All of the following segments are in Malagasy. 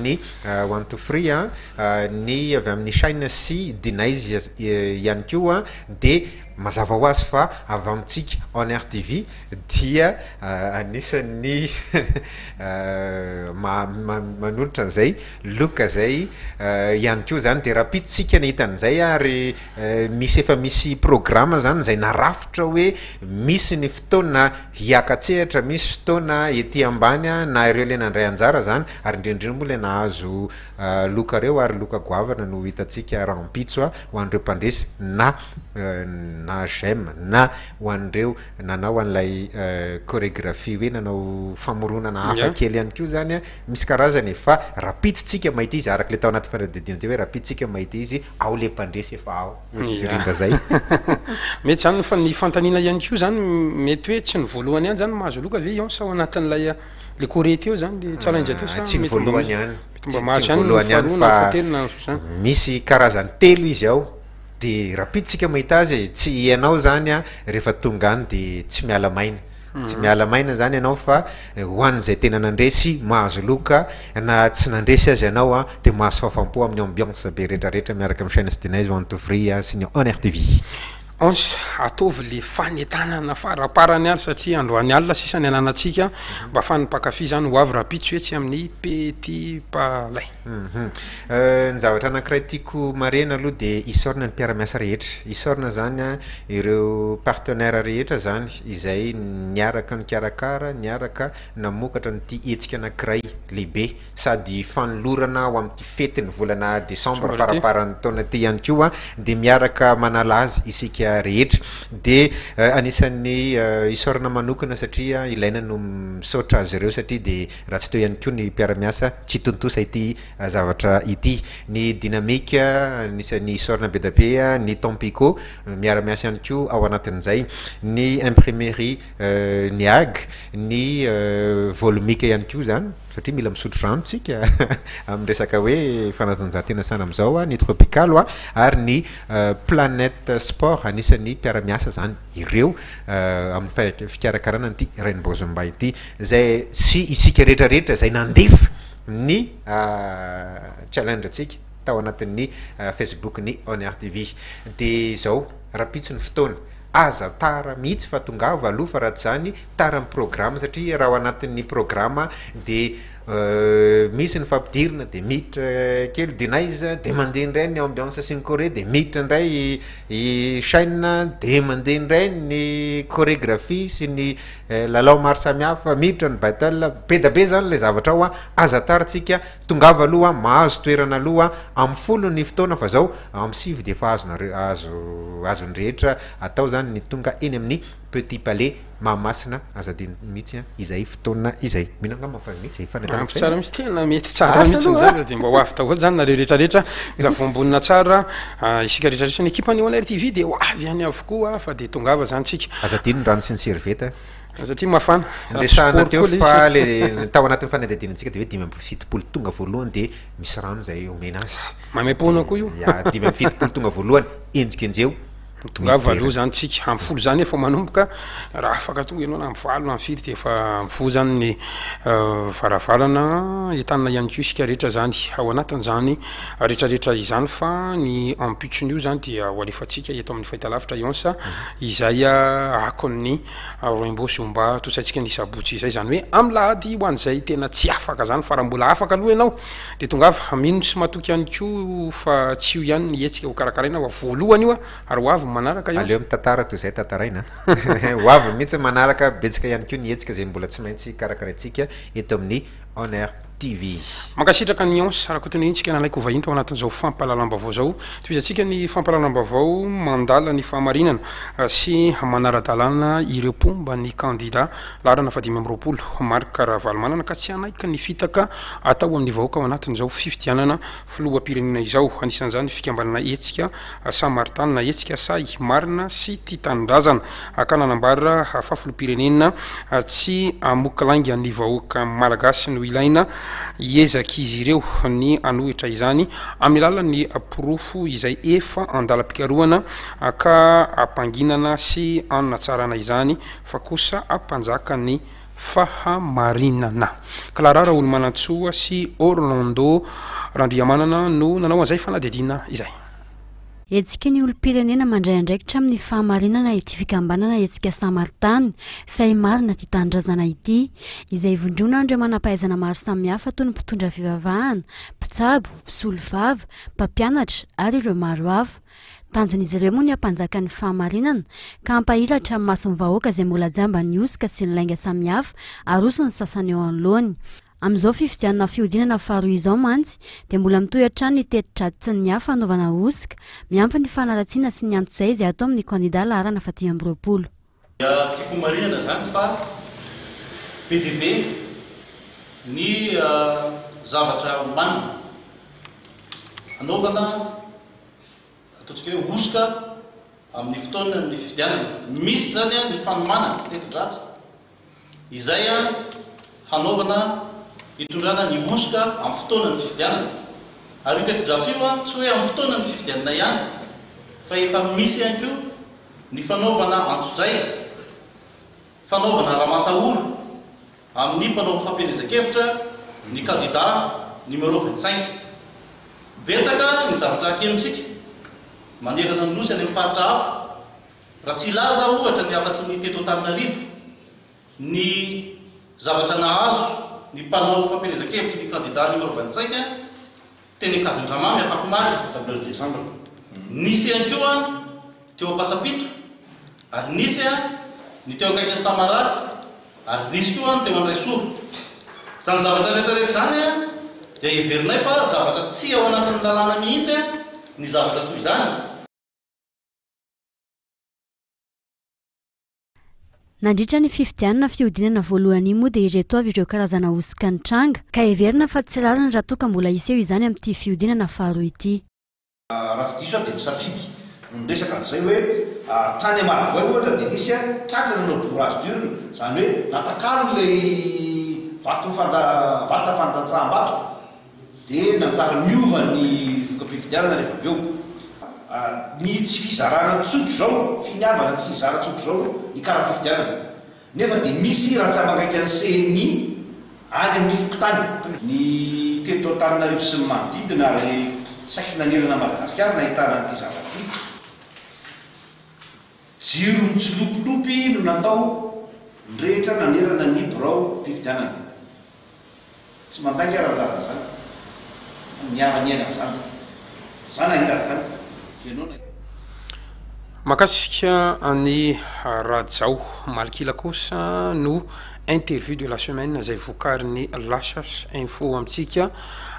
amin'ny one to free ny avy amin'ny shine sy dinazy ihany koa dia mazava ho azy fa avy amintsika on air TV dia anisan'ny manolotra an'izay look izay ihany koa izany dia rahampitso ny hita an'izay ary misy efa misy programa izany izay narafitra hoe misy ny fotoana Hiaka-tsehatra misy fotoana ety ambany na ireo ilay nandray anjara izany ary indrindra moa ilay nahazo loka ireo ary loka goavana no ho hitantsika rahampitso ho an'ireo mpandresy na na j'aime na ho an'ireo nanao an'ilay choregraphie hoe nanao famoronana hafa kely ihany koa izany misy karazany e! fa rahampitso tsika mahita izy araka ilay tao anaty fanadihadiana teo hoe rahampitso tsika mahita izy ao ilay mpandresy efa ao Miringa zay. Mety zany ny ny fantanina ihany koa zany mety hoe tsy ny voalohany ihany zany mahazo loka ve ion sao anatin'ilay le kore teo zany le tsara indray teo sa ah, tsy ny voalohany ihany mba mahazo ihany ny faharoa na fahatelo na zany misy karazany telo izy ao de rapidisika mahita azy e, tsy ianao zany a rehefa tonga any de tsy miala maina Tsy miala maina zany ianao fa ho an'izay tena nandresy mahazo loka na tsy nandresy aza ianao a de mahazo fahafam-po amin'ny ambiance be retraretra miaraka amin'ny chaine sdinaizy ho an'ny tovry a sy ny on-air tv. Ons, ataovy le fanentanana faraparany ary satria androany alina sisa ny ananantsika mba afahan'ny mpankafy zany ho avy rahampitso etsy amin'ny petit palais. Ny zavatra anankiray tiako marihina aloha dia isaorana ny mpiara-miasa rehetra. Isaorana izany an, ireo partenaires rehetra izany izay niaraka nikarakara, niaraka namokatra an'ity hetsika anankiray lehibe sady fanolorana ho amin'ity fetin'ny volana desambra faramparan'ny taona ity ihany koa dia miaraka manala azy isika rehetra. Dia anisan'ny isaorana manokana satria ilaina ny misaotra azy ireo satria dia raha tsy teo ihany koa ny mpiara-miasa tsy tontosa ity zavatra ity. Ny Dynamic, anisan'ny isaorana be dia be, ny Tampico miara-miasa ihany koa ao anatin'izay, ny Imprimerie Niag, ny Volumic ihany koa izany, satria mila misotro rano isika amin'ny resaka hoe fanatanjahantena sahala amin'izao, ny Tropical ary ny Planet Sport, anisan'ny mpiara-miasa izany. ireo amin'ny fikarakarana an'ity Rainbow Zumba ity izay sy isika rehetra rehetra izay nandefa ny challenge antsika tao anatin'ny Facebook ny Honor TV dia izao rapitso ny fotoana aza tara mihitsy fa tongava aloha fa raha tsy izany tara ny programme satria raha ao anatin'ny programme dia Misy ny fampidirina dia miditra kely Denice dia mandeha indray ny ambiance sy ny choré dia miditra indray i Shine dia mandeha indray ny chorégraphie sy ny lalao maro samihafa miditra ny battle be da be zany ilay zavatra ao aza tarintsika tongava aloha mahazo toerana aloha amin'ny folo ny fotoana fa zao amin'ny sivy dia efa azonareo azo azon'ny rehetra atao zany ny tonga eny amin'ny Petit palais, Mahamasina, aza adino mihitsy an, izay fotoana izay. Mino angamba fa mety izay fanentanana izay. Ampy tsara mihitsy, tena mety tsara mihitsy ny zaza dia mba ho avy daholo izany nareo rehetra rehetra, mila voambonina tsara isika rehetra rehetra, ny ekipa ny Oner TV dia ho avy any avokoa fa dia tongava izany tsika. Aza adino ny rano sy ny serviette. Satria mafana. Resahana teo fa ilay tao anatin'ny fanadihadianantsika dia hoe dimy amby fitopolo tonga voalohany dia misy rano izay omena azy. Maimaim-poana koa io. Ya, dimy amby fitopolo tonga voalohany, enjikenjeho. Ho tonga avy valo zany tsika, am folo zany efa manomboka, raha afaka tonga enao na am valo na am firy de efa am folo zany ny varavarana entanina ihany ko isika rehetra zany ao anatin zany retraretra izany fa ny ampitso nio zany dia ho alefatsika eto aminy fahitalavitra Ionsa izay akon'ny roimbo sy omba tosaintsika ny sabotsy izay zany hoe am lahady ho an'izay tena tsy afaka zany fa raha mbola afaka aloha enao Dia tongava, mino sy matoky ihany koa fa tsy io ihany ny hetsika ho karakaraina fa voalohany io ary ho avy ny manaraka ihany. Aleo mitantara toy izay tantaraina an! Ho avy mihitsy ny manaraka, betsaka ihany koa ny hetsika izay mbola tsy maintsy karakaraintsika eto amin'ny On Air TV. Mankasitraka an'i Hans Rakotonirintsikana nalaiko ho vahiny tao anatin'izao fampahalalam-baovao izao. Tohizantsika ny fampahalalam-baovao mandala ny fahamarinana sy manara-dalàna ireo mpomba ny kandida. Laharana fahadimy amby roapolo, Marc Ravalomanana ka tsy hanaiky ny fitaka atao amin'ny vahoaka ao anatin'izao fifidianana filoham-pirenena izao. Anisan'izany ny fikambanana Hetsika Samaritaha na Hetsika Sahy Marina sy Tia Tanindrazana ka nanambara fa filoham-pirenena tsy hamoky lainga ny vahoaka malagasy no ilaina. Hiezak'izy ireo ny hanohitra izany amin'ny alalan'ny porofo izay efa an-dalam-pikarohana ka hampanginana sy hanatsarana izany fa kosa mpanjaka ny fahamarinana. Clara Raolomanantsoa sy Orlando Randriamanana no nanao an'izay fanadihadiana izay. Hetsiky ny olom-pirenena mandray andraikitra amin'ny fahamarinana ity fikambanana Hetsika Samaritany sahy marina tia tanindrazana ity, izay ivondronan'ireo manam-pahaizana maro samihafa toy ny mpitondra fivavahana, mpitsabo, mpisolovava, mpampianatra ary ireo maro hafa. Tanjon'izy ireo moa ny hampanjaka ny fahamarinana ka hampahilatra amin'ny mason'ny vahoaka izay mbola jamba ny hosoka sy ny lainga samihafa aroson'ny sasany eo anoloany. Amin'izao fifidianana fihodinana faharoa izao mantsy dia mbola mitohy hatrany ny teti-dratsin'ny hafa hanaovana hosoka, miampy ny fanaratsiana sy ny antsozay izay atao amin'ny kandida laharana faha-dimy amby roapolo. Dia tiako homarihana izany fa be dia be ny zavatra omanina, hanaovana ataontsika hoe hosoka amin'ny fotoanan'ny fifidianana. Misy izany ny fanomanana teti-dratsy. Izay hanaovana hitondrana ny hosoka amin'ny fotoanan'ny fifidianana. Ary io teti-dratsy io tsy hoe amin'ny fotoanan'ny fifidianana ihany fa efa misy ihany koa ny fanaovana antsojay, fanaovana ramatahora amin'ny mpanao fampielezan-kevitra ny kandida numéro vingt cinq. Betsaka ny zavatra henontsika manerana ny Nosy any amin'ny faritra hafa. Raha tsy hilaza aho ohatra ny afa-tsy ny teto Antananarivo, ny zavatra nahazo ny mpanao fampielezan-kevitry ny kandidà anio Rovantsaika teny Ankadindramamy afakomaly, table de chambre. Nisy ihany koa teo Ampasampito, ary nisy ny teo akaikin'i Samarara, ary nisy koa ny teo Andraisoro. Izany zavatra rehetrarehetra izany dia heverinay fa zavatra tsy ao anatin'ny lalàna mihitsy ny zavatra toy izany. Nandritra ny fifidianana fihodinana voalohany iny moa dia ireto avy ireo karazana hosoka nitranga, ka heverina fa tsy rariny raha toa ka mbola hiseho izany amin'ity fihodinana faharoa ity. Raha tsy diso aho dia ny Safidy no niresaka an'izay hoe tany Amaravoay ohatra dia nisy tratra nanao bourrage d'urne, izany hoe natakalony ilay vata fandatsaham-bato. dia nanjary niova ny voka-pifidianana rehefa avy eo. Ny tsy fizarana tsotra izao, finiavana tsy hizara tsotra izao ny kara-pifidianana, nefa dia misy rantsamangaikan'ny ceni any amin'ny fokontany. Ny teto Antananarivo sy ny manodidina ary saiky nanerana an'i Madagasikara no nahitana an'ity zavatra ity. Jiro mitsilopilopy no natao ny rehetra nanerana ny biraom-pifidianana. Tsy mandainga raha milaza an'izany fa miara-miaina ny zandriko. Za nahita an'izany. Ianao nahita. Mankasitra an'i Rajao. Malkila kosa no interview de la semaine izay vokarin'ny Lashas info amintsika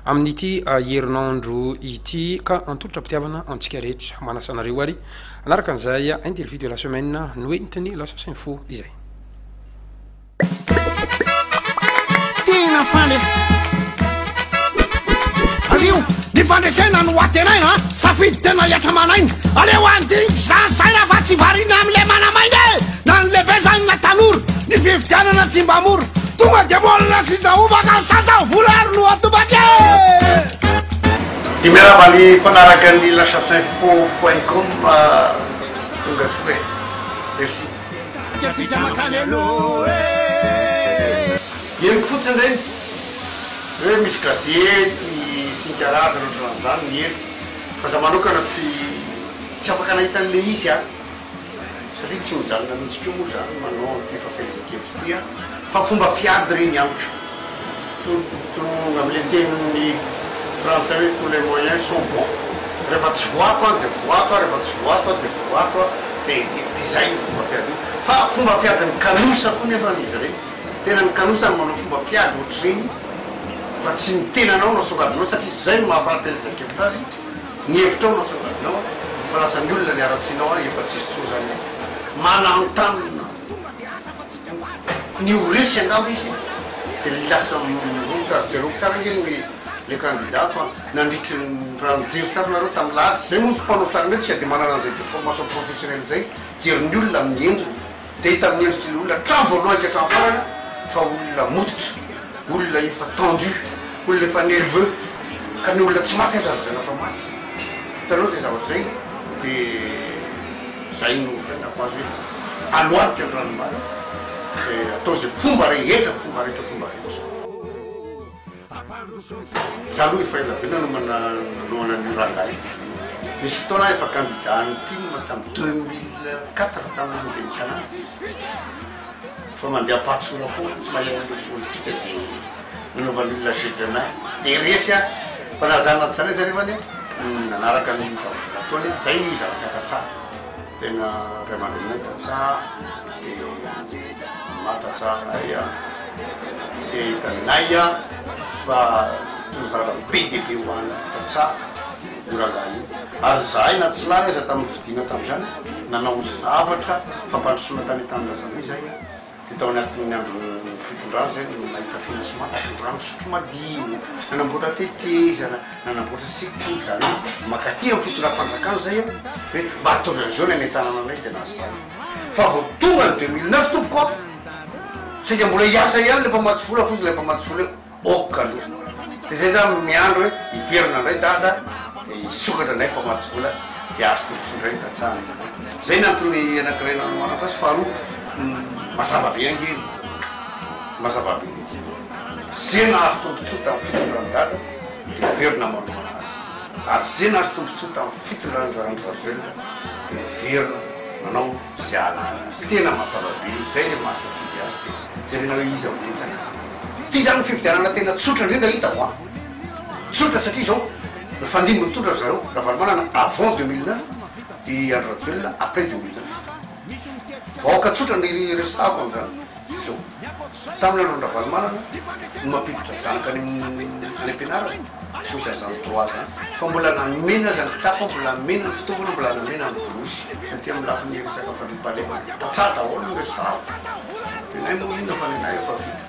amin'ity herinandro ity ka antolotra am-pitiavana antsika rehetra. Manasa anareo ary hanaraka an'izay interview de la semaine noentin'ny Lashas info izay. Tena faly aho. Alio, ny fandresena no atenaina a! Safidy tena hiatra aman'aina! Aleo handiniky za saina fa tsy variana amin'ilay manamaina e! Na ny lehibe zany na tanora, ny fifidianana tsy mba mora! Tonga dia molina sy zahoba ka sasa vola ary no atobaka e! Dia miarahaba ny mpanaraka ny lachaseinfo point com, tonga soa e! Merci. Henoko fotsiny ireny hoe misy gazety misinika razana ohatran'izany ny ela fa za manokana tsy tsy afaka nahita an'ilay izy aho satria tsy mijanona mihitsy koa moa za manao an'ity fampaizan-kevitra ity aho fa fomba fiady ireny amiko. Tonga amin'ilay tenin'ny frantsay hoe tous les moyens sont bons, rehefa tsy voako an dia voako an, rehefa tsy voako an dia voako an, dia dia dia izay io fomba fiady io. Fa fomba fiadin'ny kanosa koa nefa izy ireny, tena ny kanosa no manao fomba fiady ohatr'ireny fa tsy ny tenanao no asongadinao satria izay no maha fahatelesan-kevitra azy, ny hevitrao no asongadinao an, fa lasa ny olona ny haratsianao an, efa tsisy intsony izany an, mananontanona. Ny ho resy angamba izy dia ny lasa miroho tsara, jereo tsara ange ny le candidat fa nandritry ny raha nijery tsara nareo tamin'ny lahady, zay moa izy mpanao sarimihetsika tsy dia manana an'izay deformation professionnelle izay, jery ny olona amin'ny endriny dia hita amin'ny endriky ny olona hatramin'ny voalohany ka hatramin'ny farany fa olona mototra, olona efa tendu, olona efa nerveux ka ny olona tsy maty aza lazaina fa maty, hitanao izay zavatra izay dia. Izay no faitako azy hoe aloadika ny ranom-bana dia atao izay fomba rehetra, fomba rehetra, fomba rehetra. Izaho aloha efa ela be nanomana nanohana an'io rangahy io. Nisy fotoana aho efa kandida an'ny tim tamin'ny deux mille quatre tamin'ny ben'ny tanàna. fa mandeha ampatsora foana tsy mahay an'ireo politika dia nanaovan'ny olona jeu de main dia resy a fa na zany na tsy zany aza nefa anie nanaraka ny zavatra nataony a zay zavatra ny tantsaha tena ray aman-dreninay tantsaha dia maro tantsaha mahay a dia hitanay a fa tena zavatra be dia be ho an'ny tantsaha io rangahy io ary izahay na tsy lany aza tamin'ny fidiana tamin'izany nanao zavatra fampandrosoana tany Tanindrazambe izahay dia tao anatin'ny andron'ny fitondrana izay no nahita financement tampindrano fisotro madio, nanamboatra tetezana, nanamboatra sekoly, izany hoe mankaty amin'ny fitondram-panjakana izahay hoe mba ataovy an'izao ny any an-tanàna anay dia nahazo vahana fa vao tonga ny deux mille neuf tompoko a! sainga mbola hiasa ihany ilay mpamatsy vola fotsiny ilay mpamatsy vola eo ok aloha de zay za miandry hoe hiverina ndray dada de hisokatra ndray mpamatsy vola de azo tontosa ndray ny tantsaha zay ny antony anakiray nanohanako azy faharoa mazava be ange mazava be mihitsy ze nahazo tombotsoa tamin'ny fitondran'i dada de hiverina manohana azy ary ze nahazo tombotsoa tamin'ny fitondran'i andry rajoelina de hiverina manao sy ala any aminy. Tena mazava be io, zay le maha safidy azy de jerena hoe iza no betsaka. Ty zany no fifidianana tena tsotra indrindra hitako an! Tsotra satria zao, nifandimby ny tondra ry zareo, Ravalomanana avant deux mille neuf, i Andry Rajoelina après deux mille neuf. Vahoaka tsotra no iresahako amzany, zao. Tamin'ny andron'i Ravalomanana no mampiditra zanaka any am-pianarana, tsy misy an'izany droit izany, fa mbola namena aza ny kitapo, mbola namena ny fitaovana, mbola namena ny borosy, taty amin'ny lafiny resaka fandriampahalemana, tantsaha daholo ny resahako, nenay moa inona fa nenay efa vita,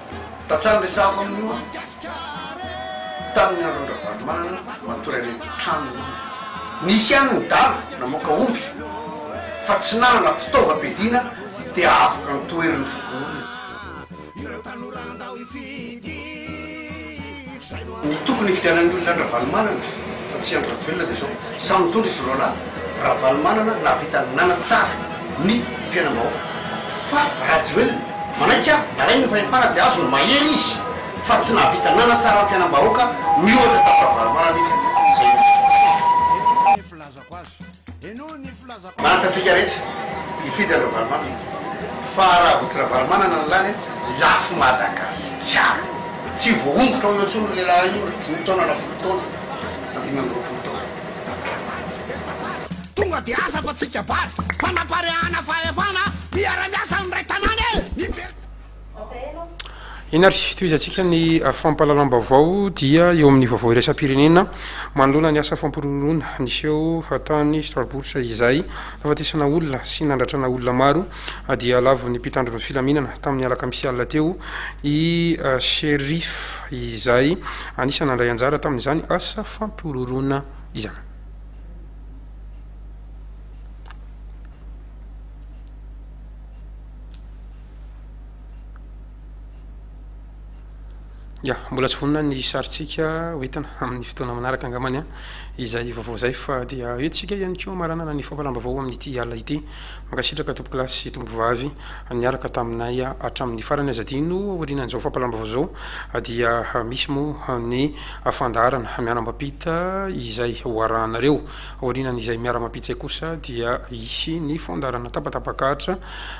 tantsaha ny resahako amin'io an, tamin'ny andron'i Ravalomanana matory any an-tranony ny olona, nisy ihany ny dala namoaka omby fa tsy nanana fitaovam-piadiana Dia avoka ny toeriny voalohany. Ireo tanora andao hifidy fisainona. Ny tokony hifidianan'ny olona an-dRavalomanana fa tsy an-dry Rajoelina dia izao, samy nitondra izy roa lahy, Ravalomanana nahavita nanatsara ny fiainam-bahoaka fa Rajoelina manaiky avy nalainy ny fahefana dia azony mahery izy fa tsy nahavita nanatsara ny fiainam-bahoaka miohatra tamin'i Ravalomanana izy izay izy. Lasa antsika rehetra hifidy an Ravalomanana fa raha vao tsy Ravalomanana no lany dia lafo Madagasikara. Tsy voahongotra ao eo intsony io lehilahy io na dimy taona na folo taona na dimy amby roapolo taona. Tonga dia asa fa tsy kabary. Fanapareahana fahefana hiara-miasa ny iray tanàna e! Eny ary, tohizantsika ny fampahalalam-baovao dia eo amin'ny vaovao iraisam-pirenena manoloana ny asa fampiroroana niseho tany Strasbourg izay nahafatesana olona sy nandratrana olona maro dia lavon'ny mpitandro ny filaminana tamin'ny alakamisy alina teo i Cherif izay anisan'ny nandray anjara tamin'izany asa fampiroroana izany. Ya, mbola tsy vonona ny sarintsika ho entina amin'ny fotoana manaraka angambany an, izay vaovao izay fa dia entintsika ihany koa maranana ny fampalambavao amin'ity alina ity. Mankasitraka tompokolahy sy tompovavy niaraka taminay hatramin'ny farany aza adino aorianan'izao fampalambavao izao dia misy moa ny fandaharana miara-mampita izay ho arahanareo. Aorianan'izay miara-mampita izay kosa dia hisy ny fandaharana tapatapak'Atra.